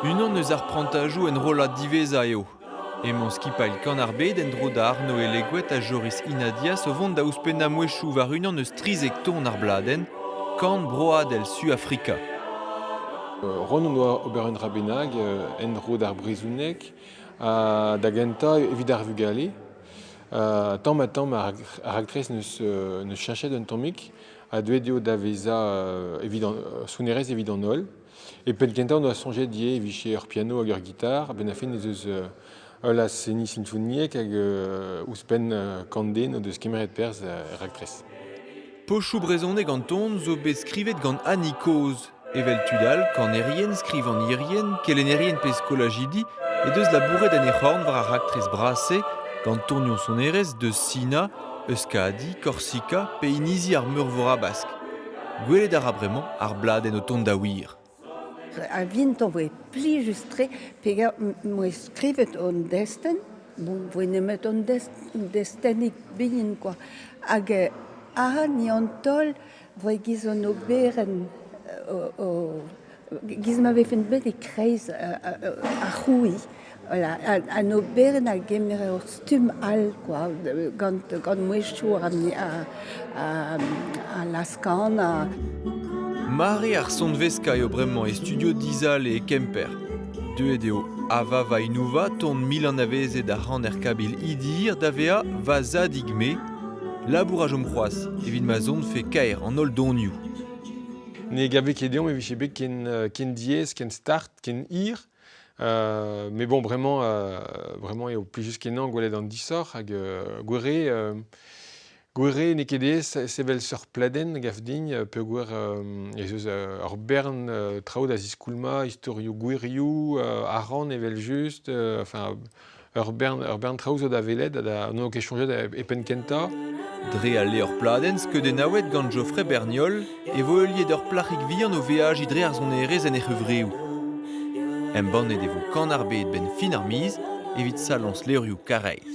Unan eus ar prantajoù enrollad diwezhañ eo. Emañ skipailh Kanarbed en-dro da Arnoe Leguet ha Joris Inadias o vont da ouzhpennañ mouezhioù war unan eus trizek ton ar bladenn Kan broadel Suafrika. Ron hon doa ober un dra bennak en-dro d'ar brezhoneg ha da gentañ evit ar vugale. Tamm-ha-tamm ar raktres ne cherchet un tammig a deuet eo da vezañ evit an, sonerezh evit an holl. Et penn kentañ on doa soñjet ivez e vije ur piano hag ur gitar. Ben a fin ez eus ul aseni sinfoniek hag ouzhpenn kant den o deus kemeret perzh er raktres. Pochoù brezhoneg an ton zo bet skrivet gant Annie Kozh. Evel tud all, kanerien, skrivagnerien, kelennerien pe skolajidi he deus labouret en he c'horn war ar raktres bras-se gant tonioù sonerezh deus Sina, Euskadi, Korsika pe inizi ar Meurvor Habask. Gwelet a ra bremañ ar bladenn o tont da wir. A vinto voe plijus-tre peger m'oe skrivet hon destenn. Bon, voe nemet hon destennig bihan, quoi. Hag eh ahan ni an taol Giz an oberenn, giz ma vefen bet e-kreiz ar c'hrouiñ, an oberenn a gemere ur stumm all kwa, gant mouezhioù a lazh-kanañ. Mare ar sonveskañ eo bremañ e studio Dizale e Kemper. Deuet eo Ava Vainouva, ton mil anavezet ar c'haner kabil Idir, da vezañ va zadig-me, Labour a chom c'hoazh evit ma zonfe kaer an holl donioù. Ne gave ket deomp e vije bet ken, euh, ken diaes, ken start, ken hir. Euh, mais bon, vraiment, euh, vraiment, eo plus juste kenañ gwelet an disoc'h hag euh, gwere, euh, gwere n'eo ket aes sevel seurt pladenn gaf din euh, peogwir euh, ez eus euh, ur bern euh, traoù da ziskoulmañ, istorioù gwirioù, euh, aran evel-just, euh, enfin, Ur bern traoù zo da welet ha n'on ket soñjet e penn-kentañ. Dre al levr-pladenn skeudennaouet gant Geoffrey Berniol e vo heuliet ur plac'hig vihan o veajiñ dre ar sonerezh en he c'hevreoù. Embannet e vo Kan ar Bed 'benn fin ar miz evit saloñs levrioù Karaez.